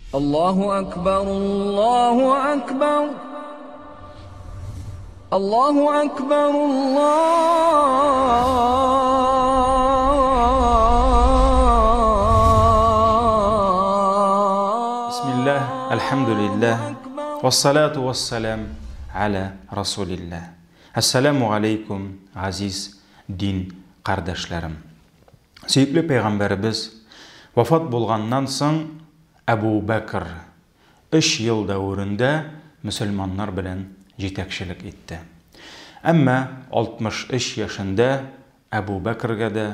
Аллаһу Әкбар, Аллаһу Әкбар, Аллаһу Әкбар, Бисмиллаһ, Әлхәмдүлиллаһ, Вәссалату вәссәлам гәлә Расулиллаһ. Әссәләмү галәйкүм, газиз дин кардәшләрем! Сөекле пәйгамбәребез вафат булганнан соң Әбу Бәкр өч ел дәверендә мөселманнар белән җитәкчелек итте. Әмма 63 яшендә Әбу Бәкргә дә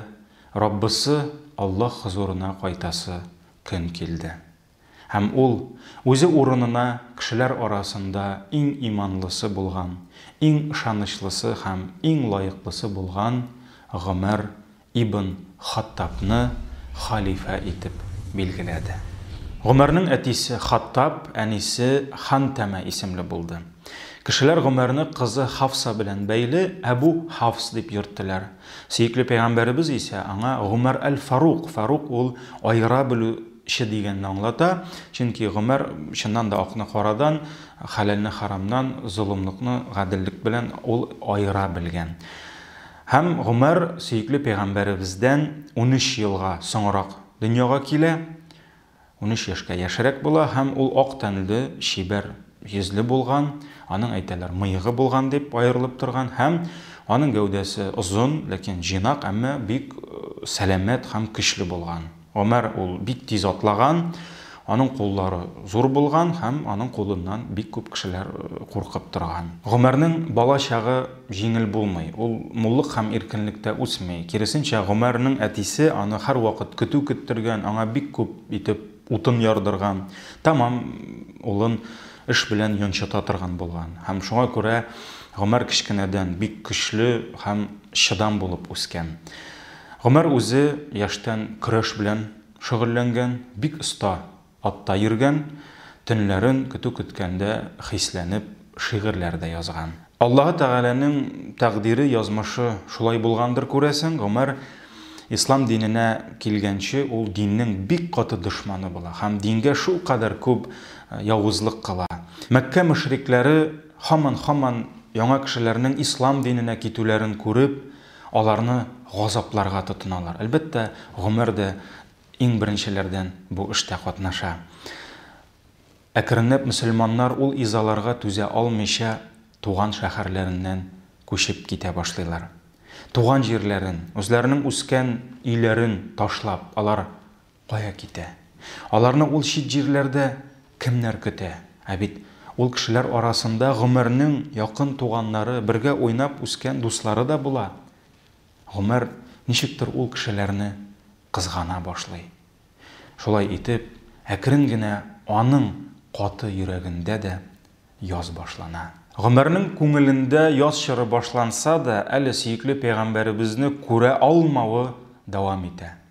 Раббысы Аллаһ хозурына кайтасы көн килде. Һәм ул, үзе урынына, кешеләр арасында иң иманлысы булган, иң ышанычлысы һәм иң лаеклысы булган Гомәр ибн Хаттабны хәлифә итеп билгеләде. Гомәрнең әтисе Хаттаб, әнисе Хантәмә исемле булды. Кешеләр Гомәрне кызы Хафса белән бәйле Әбү Хафс дип йөрттеләр. Сөекле пәйгамбәребез исә аңа Гомәр әл-Фарук, Фарук ул аера белү, че дигәнне аңлата, чөнки Гомәр чыннан да акны карадан, хәләлне харамнан, золымлыкны гаделлек белән ул аера белгән. Һәм Гомәр сөекле пәйгамбәребездән унөч елга соңрак дөньяга килә, унөч яшькә яшьрәк була һәм ул ак тәнле, чибәр йөзле булган, аның, әйтәләр, мыегы булган дип аерылып торган һәм аның гәүдәсе озын, ләкин җыйнак, әмма бик сәламәт һәм көчле булган. Гомәр ул бик тиз атлаган, аның куллары зур булган һәм аның кулыннан бик күп кешеләр куркып торган. Гомәрнең бала чагы җиңел булмый, ул муллык һәм иркенлектә үсми. Киресенчә, Гомәрнең әтисе аны һәрвакыт көтү көттергән, аңа бик күп итеп утын ярдырган, тәмам улын эш белән йончыта торган булган. Һәм шуңа күрә Гомәр кечкенәдән бик көчле һәм чыдам булып үскән. Гомәр үзе яшьтән көрәш белән шөгыльләнгән, бик оста атта йөргән, төнләрен көтү көткәндә хисләнеп шигырьләр дә язган. Аллаһы Тәгаләнең тәкъдире, язмышы шулай булгандыр, күрәсең, Гомәр ислам диненә килгәнче ул диннең бик каты дошманы була һәм дингә шулкадәр күп явызлык кыла. Мәккә мөшрикләре һаман-һаман яңа кешеләрнең ислам диненә китүләрен күреп, Аларны газапларга тотыналар. Әлбәттә, Гомәр дә иң беренчеләрдән бу эштә катнаша. Әкренләп мөселманнар ул изаларга түзә алмыйча туган шәһәрләреннән күчеп китә башлыйлар. Туган җирләрен, үзләренең үскән өйләрен ташлап, алар Кая китә? Аларны ул чит җирләрдә кемнәр көтә? Ә бит ул кешеләр арасында Гомәрнең якын туганнары, бергә уйнап үскән дуслары да була. Гомәр ничектер ул кешеләрне кызгана башлый. Шулай итеп, әкрен генә аның каты йөрәгендә дә яз башлана. Гомәрнең күңелендә яз чоры башланса да, әле сөекле пәйгамбәребезне күрә алмавы дәвам итә.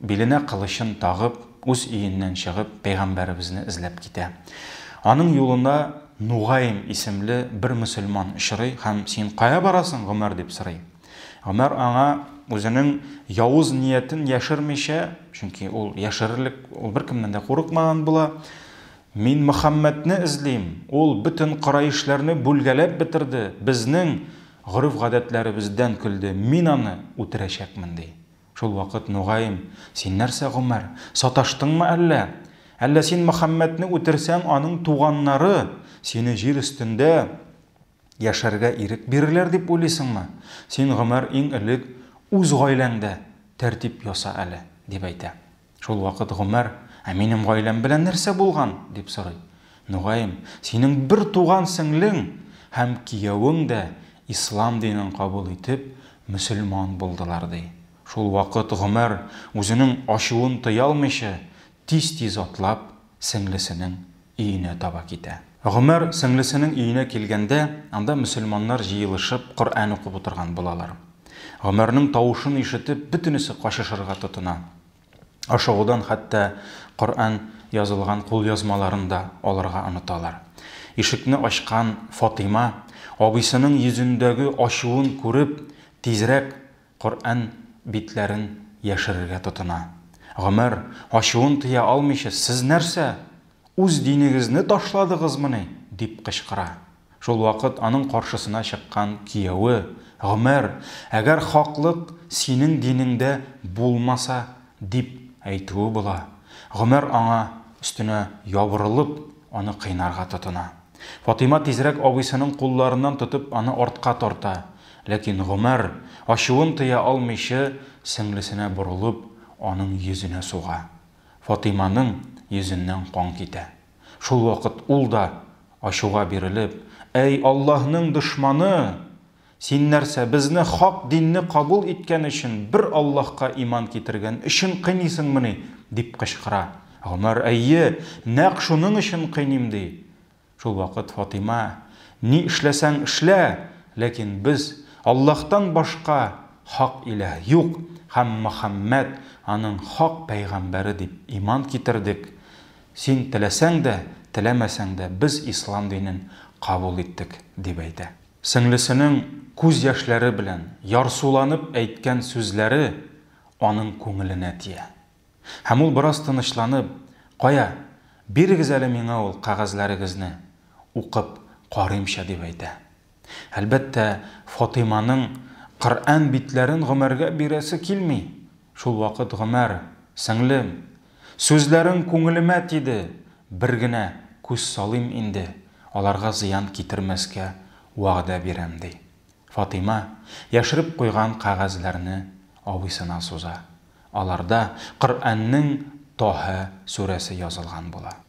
биленә кылычын тагып, үз өеннән чыгып, пәйгамбәребезне эзләп китә. Аның юлына Нугаим исемле бер мөселман очрый һәм Син кая барасың, Гомәр? дип сорый. Гомәр аңа үзенең явыз ниятен яшермичә, чөнки ул яшерерлек, ул беркемнән дә курыкмаган була, Мин Мөхәммәдне эзлим, ул бөтен кораишләрне бүлгәләп бетерде, безнең гореф-гадәтләребездән көлде, мин аны үтерәчәкмен, ди. Шул вакыт, мөгаен, Син нәрсә, Гомәр, саташтыңмы әллә? Әллә син Мөхәммәдне үтерсәң, аның туганнары сине җир өстендә яшәргә ирек бирерләр дип уйлыйсыңмы? Син, Гомәр, иң элек үз гаиләңдә тәртип яса әле, дип әйтә. Шул вакыт Гомәр, Ә минем гаиләм белән нәрсә булган? дип сорый. Нугаим, Синең бер туган сеңлең һәм киявең дә ислам динен кабул итеп, мөселман булдылар, ди. Шул вакыт Гомәр, үзенең ачуын тыя алмыйча, тиз-тиз атлап сеңлесенең өенә таба китә. Гомәр сеңлесенең өенә килгәндә, анда мөселманнар җыелышып, Коръән укып утырган булалар. Гомәрнең тавышын ишетеп, бөтенесе качышырга тотына. Ашыгудан хәтта Коръән язылган кулъязмаларын да алырга оныталар. Ишекне ачкан Фатыйма, абыйсының йөзендәге ачуын күреп, тизрәк Коръән битләрен яшерергә тотына. Гомәр, ачуын тыя алмыйча, Сез нәрсә, үз динегезне ташладыгызмыни? дип кычкыра. Шулвакыт аның каршысына чыккан кияве, Гомәр, әгәр хаклык синең динеңдә булмаса, дип әйтүе була. Гомәр аңа өстенә ябырылып, аны кыйнарга тотына. Фатыйма тизрәк абыйсының кулларыннан тотып аны артка тарта, ләкин Гомәр, ачуын тыя алмыйчы, сеңлесенә борылып, аның йөзенә суга. Фатыйманың йөзеннән кан китә. Шул вакыт ул да, ачуга бирелеп, Әй Аллаһның дошманы! Син нәрсә, безне хак динне кабул иткән өчен, бер Аллаһка иман китергән өчен кыйныйсыңмыни? дип кычкыра. Гомәр, Әйе, нәкъ шуның өчен кыйныйм, ди. Шул вакыт Фатыйма, Ни эшләсәң эшлә, ләкин без, Аллаһтан башка хак илаһ юк һәм Мөхәммәд, аның хак пәйгамбәре дип иман китердек. Син теләсәң дә, теләмәсәң дә, без ислам динен кабул иттек, дип әйтә. Сеңлесенең күз яшьләре белән ярсуланып әйткән сүзләре аның күңеленә тия. Һәм ул бераз тынычланып, Кая, бирегез әле миңа ул кәгазьләрегезне, укып карыймчы, дип әйтә. Әлбәттә, Фатыйманың Коръән битләрен Гомәргә бирәсе килми. Шулвакыт Гомәр, Сеңлем, Сүзләрең күңелемә тиде, Бер генә күз салыйм инде, Аларга зыян китермәскә вәгъдә бирәм, ди. Фатыйма, яшереп куйган кәгазьләрне абыйсына суза. Аларда Коръәннең Тәһә сүрәсе язылган була.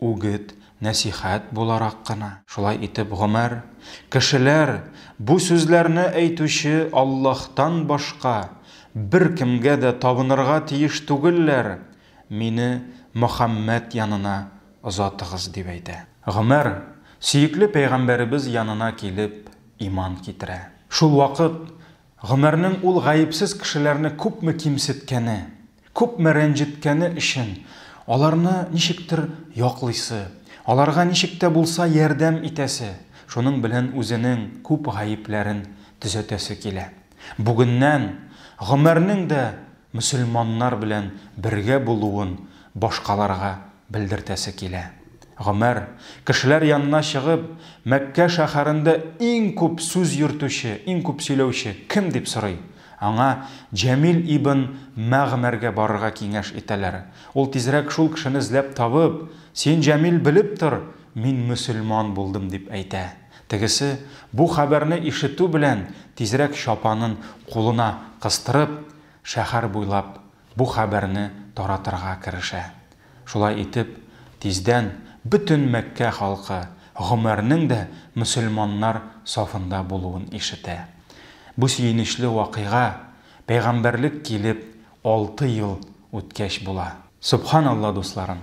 Үгет, нәсыйхәт буларак кына. Шулай итеп гомәр, кешеләр бу сүзләрне әйтүче Аллаһтан башка беркемгә дә табынырга тиеш түгелләр, мине Мөхәммәд янына озатыгыз, дип әйтә. Гомәр, сөекле пәйгамбәребез янына килеп, иман китерә. Шул вакыт Гомәрнең ул гаепсез кешеләрне күпме кимсеткәне, күпме рәнҗеткәне өчен аларны ничектер яклыйсы, аларга ничек тә булса ярдәм итәсе, шуның белән үзенең күп гаепләрен төзәтәсе килә. Бүгеннән Гомәрнең дә мөселманнар белән бергә булуын башкаларга Белдертәсе килә. Гомәр, кешеләр янына чыгып, Мәккә шәһәрендә иң күп сүз йөртүче, иң күп сөйләүче кем? дип сорый. Аңа Җәмил ибн Мәгъмәргә барырга киңәш итәләр. Ул тизрәк шул кешене эзләп табып, Син, Җәмил, белеп тор, мин мөселман булдым, дип әйтә. Тегесе, бу хәбәрне ишетү белән, тизрәк чапанын кулына кыстырып, шәһәр буйлап бу хәбәрне таратырга керешә. Шулай итеп, тиздән бөтен Мәккә халкы Гомәрнең дә мөселманнар сафында булуын ишетә. Бу сөенечле вакыйга пәйгамбәрлек килеп алты ел үткәч була. Сөбханалла, дусларым!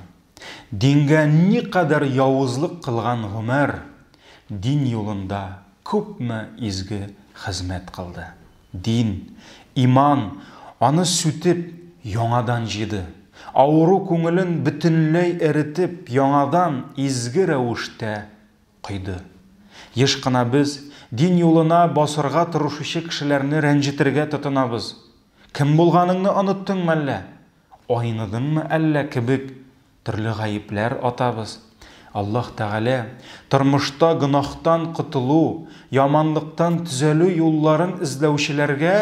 Дингә никадәр явызлык кылган Гомәр дин юлында күпме изге хезмәт кылды! Дин, иман аны сүтеп, яңадан җыйды. Авыру күңелен бөтенләй эретеп, яңадан изге рәвештә койды. Еш кына без дин юлына басырга тырышучы кешеләрне рәнҗетергә тотынабыз. Кем булганыңны оныттыңмы әллә? Айныдыңмы әллә кебек төрле гаепләр атабыз. Аллаһ Тәгалә тормышта гөнаһтан котылу, яманлыктан төзәлү юлларын эзләүчеләргә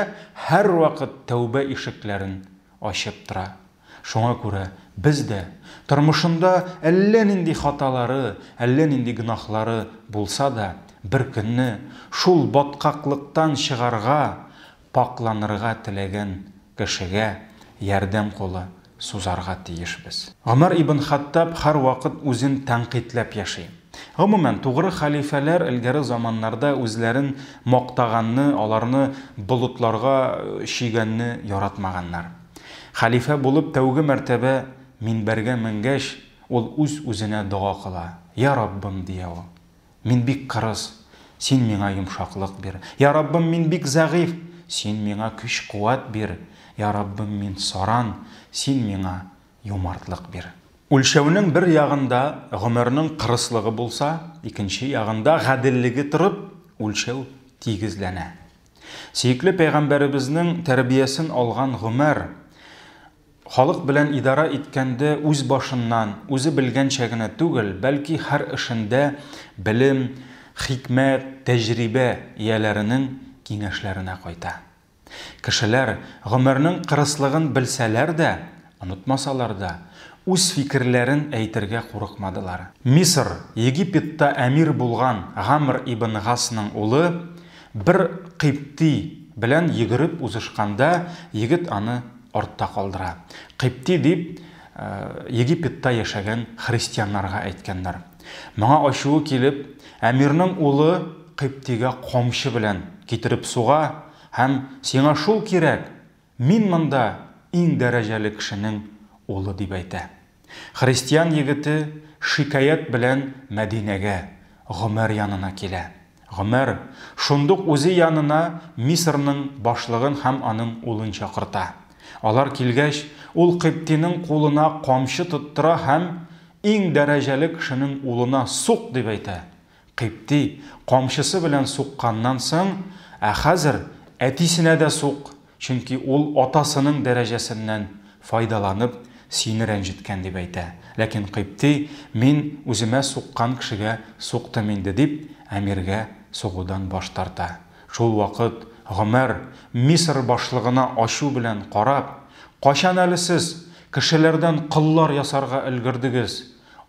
һәрвакыт тәүбә ишекләрен ачып тора. Шуңа күрә без дә, тормышында әллә нинди хаталары, әллә нинди гөнаһлары булса да, беркөнне шул баткаклыктан чыгарга, Пакьланырга теләгән кешегә ярдәм кулы сузарга тиешбез. Гомәр ибн Хаттаб һәрвакыт үзен тәнкыйтьләп яши. Гомумән, тугры хәлифәләр элгәре заманнарда үзләрен мактаганны, аларны болытларга чөйгәнне яратмаганнар. Хәлифә булып тәүге мәртәбә минбәргә менгәч, ул үз-үзенә дога кыла, Я Раббым, дия ул, Мин бик кырыс, Син миңа йомшаклык бир. Йа Раббым, мин бик зәгыйфь, Син миңа көч-куәт бир. Йа Раббым, мин саран, Син миңа юмартлык бир. Үлчәүнең бер ягында гомернең кырыслыгы булса, икенче ягында гаделлеге торып, үлчәү тигезләнә. Сөекле пәйгамбәребезнең тәрбиясен алган Гомәр, Халык белән идарә иткәндә үз башыннан, үзе белгәнчә генә түгел, бәлки һәр эшендә белем, хикмәт, тәҗрибә ияләренең киңәшләренә кайта. Кешеләр, гомернең кырыслыгын белсәләр дә, онытмасалар да, үз фикерләрен әйтергә курыкмадылар. Мисыр, Египетта әмир булган Гамр ибн Гасның улы бер кыйпти белән йөгереп узышканда, егет аны артта калдыра. Кыйпти дип Египетта яшәгән христианнарга әйткәннәр. Моңа ачуы килеп, әмирнең улы Кыйптигә камчы белән китереп суга һәм сиңа шул кирәк, мин монда иң дәрәҗәле кешенең улы дип әйтә. Христиан егете шикаять белән Мәдинәгә, Гомәр янына килә. Гомәр шундук үзе янына Мисырның башлыгын һәм аның улын чакырта. Алар килгәч, ул кыйптиның кулына камчы тоттыра һәм, Иң дәрәҗәле кешенең улына сук! дип әйтә. Кыйпти, камчысы белән сукканнан соң, Ә хәзер әтисенә дә сук, чөнки ул атасының дәрәҗәсеннән файдаланып, сине рәнҗеткән, дип әйтә. Ләкин Кыйпти, Мин үземә суккан кешегә суктым инде, дип, әмиргә сугудан баш тарта. Шулвакыт Гомәр, Мисыр башлыгына ачу белән карап, Кайчан әле сез кешеләрдән коллар ясарга өлгердегез?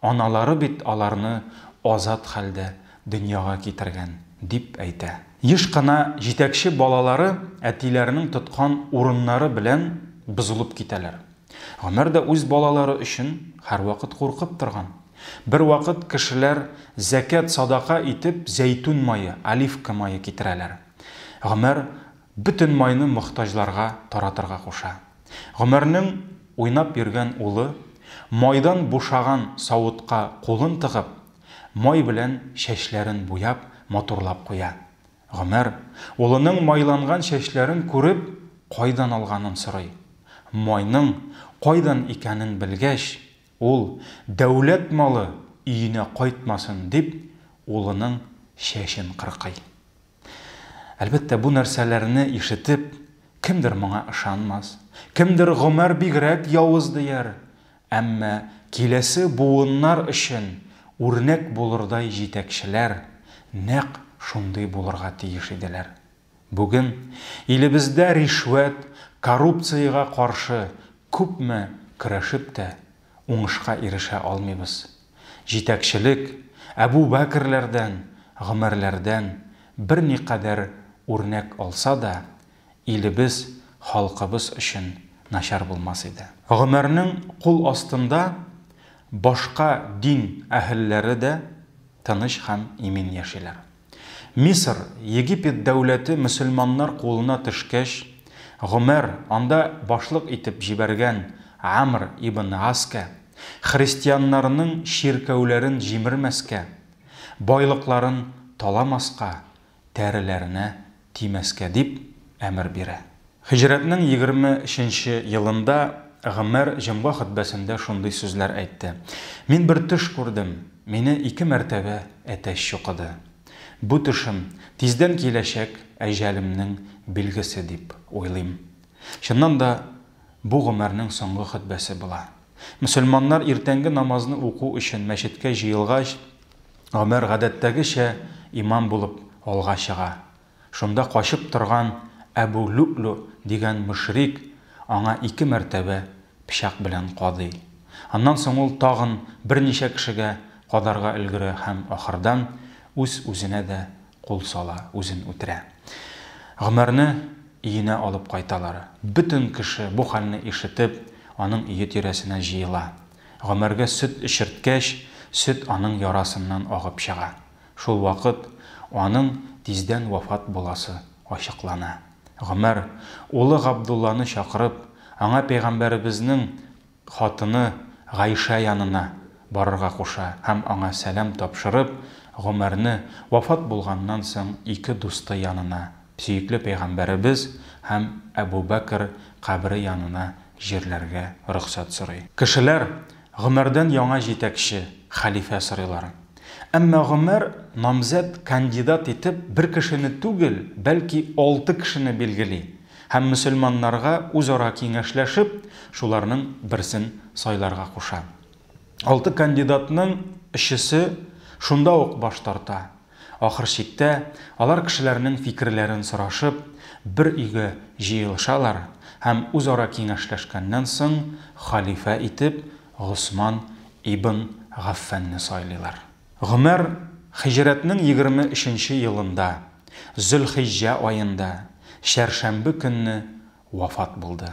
Аналары бит аларны азат хәлдә дөньяга китергән, дип әйтә. Еш кына җитәкче балалары әтиләренең тоткан урыннары белән бозылып китәләр. Гомәр дә үз балалары өчен һәрвакыт куркып торган. Бервакыт кешеләр зәкят-садака итеп зәйтүн мае, оливка мае китерәләр. Гомәр Бөтен майны мохтаҗларга таратырга куша. Гомәрнең уйнап йөргән улы, майдан бушаган савытка кулын тыгып, май белән чәчләрен буяп, матурлап куя. Гомәр, улының майланган чәчләрен күреп, кайдан алганын сорый. Майның кайдан икәнен белгәч, ул, Дәүләт малы өенә кайтмасын, дип, улының чәчен кыркый. Әлбәттә, бу нәрсәләрне ишетеп, кемдер моңа ышанмас, кемдер Гомәр бигрәк явыз дияр, әмма киләсе буыннар өчен үрнәк булырдай җитәкчеләр нәкъ шундый булырга тиеш иделәр. Бүген илебездә ришвәт, коррупциягә каршы күпме көрәшеп тә, уңышка ирешә алмыйбыз. җитәкчелек, Әбү Бәкерләрдән, Гомәрләрдән берникадәр үрнәк алса да, илебез, халкыбыз өчен начар булмас иде. Гомәрнең кул астында башка дин әһелләре дә тыныч һәм имин яшиләр. Мисыр, Египет дәүләте мөселманнар кулына төшкәч, Гомәр, анда башлык итеп җибәргән Амр ибн Гаскә, христианнарның чиркәүләрен җимермәскә, байлыкларын таламаска, тәреләренә тимәскә дип әмер бирә. Һиҗрәтнең егерме өченче елында Гомәр җомга хөтбәсендә шундый сүзләр әйтте, Мин бер төш күрдем, мине ике мәртәбә әтәч чукыды. Бу төшем, тиздән киләчәк әҗәлемнең билгесе дип уйлыйм. Чыннан да, бу Гомәрнең соңгы хөтбәсе була. Мөселманнар иртәнге намазны уку өчен мәчеткә җыелгач, Гомәр гадәттәгечә имам булып алга чыга. Шунда качып торган Әбү Лю'лю дигән мөшрик аңа ике мәртәбә пычак белән кадый. Аннан соң ул тагын берничә кешегә кадарга өлгерә һәм ахырдан үз-үзенә дә кул сала, үзен үтерә. Гомәрне өенә алып кайталар. Бөтен кеше бу хәлне ишетеп, аның өе тирәсенә җыела. Гомәргә сөт эчерткәч, сөт аның ярасыннан агып чыга. Шул вакыт аның тиздән вафат буласы ачыклана. Гомәр, улы Габдулланы чакырып, аңа пәйгамбәребезнең хатыны Гайшә янына барырга куша һәм аңа сәлам тапшырып, Гомәрне вафат булганнан соң ике дусты янына Сөекле пәйгамбәребез һәм Әбу Бәкер кабере янына җирләргә рөхсәт сорый. Кешеләр Гомәрдән яңа җитәкче, хәлифә сорыйлар. Әмма Гомәр намзәт, кандидат итеп бер кешене түгел, бәлки алты кешене билгели һәм мөселманнарга үзара киңәшләшеп, шуларның берсен сайларга куша. Алты кандидатның өчесе шунда ук баш тарта, Ахыр чиктә, алар кешеләрнең фикерләрен сорашып, бер өйгә җыелышалар һәм үзара киңәшләшкәннән соң, хәлифә итеп Госман ибн Гаффанны сайлыйлар. Гомәр һиҗрәтнең егерме өченче елында, Зөлхиҗҗә аенда, чәршәмбе көнне вафат булды.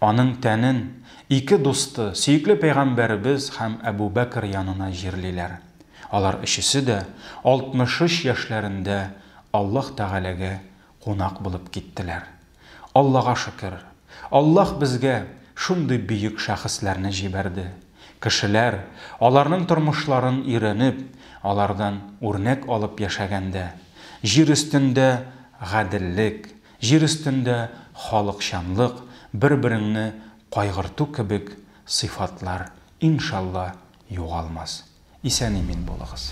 Аның тәнен ике дусты, сөекле пәйгамбәребез һәм Әбү Бәкер янына җирлиләр. Алар өчесе дә 63 яшьләрендә Аллаһ Тәгаләгә кунак булып киттеләр. Аллага шөкер, Аллаһ безгә шундый бөек шәхесләрне җибәрде. Кешеләр, аларның тормышларын өйрәнеп, алардан үрнәк алып яшәгәндә, җир өстендә гаделлек, Җир өстендә халыкчанлык, бер-береңне кайгырту кебек сыйфатлар, иншалла, югалмас. Исән-имин булыгыз.